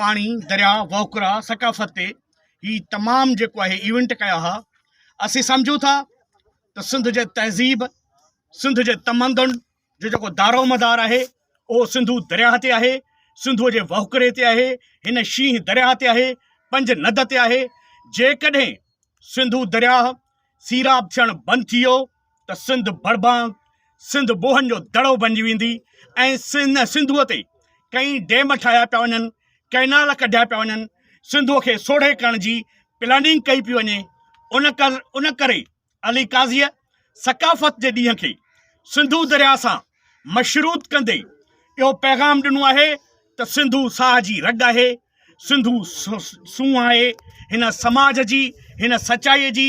پاڻي دريا وهڪرا ثقافت تي هي تمام جيڪو آهي ايونٽ ڪيا ها اسين سمجهون ٿا ته سنڌ جي تهذيب سنڌ جي تمندن جو جيڪو دارو مدار آهي اهو سنڌو درياء تي آهي سنڌو جي وهڪري تي آهي هن شينهن درياء تي آهي پنج ند تي آهي جيڪڏهن سنڌو درياء سيراب ٿيڻ بند ٿي ويو ته سنڌ بڙبانگ سنڌ بوهن جو دڙو بنجي ويندي ۽ ان سنڌوء تي ڪئين ڊيم ٺاهيا پيا وڃن ڪئنال ڪڍيا پيا وڃن سنڌوء کي سوڙهي ڪرڻ جي پلاننگ ڪئي پيو وڃي ان ڪر ان ڪري علي قاضيء ثقافت جي ڏينهن کي سنڌو درياء سان مشروط ڪندي اهو پيغام ڏنو آهي ته سنڌو ساهه جي رڳ آهي سنڌو سونهن آهي هن سماج جي، هن سچائيء جي،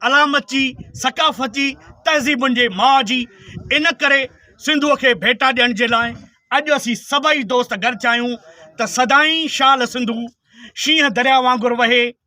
علامت جي، ثقافت جي، تهذيبن جي ماء جي. ان ڪري سنڌوء کي ڀيٽا ڏيڻ جي لاء اڄ اسين سڀئي دوست گڏ ٿيا آهيون ته سدائين شال سنڌو شينهن درياء وانگر وهي،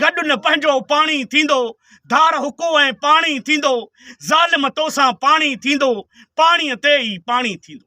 گڏ نه پنهنجو پاڻي ٿيندو، ڌار حقو ۽ پاڻي ٿيندو، ظالم توسان پاڻي ٿيندو، پاڻيء تي ئي پاڻي ٿيندو.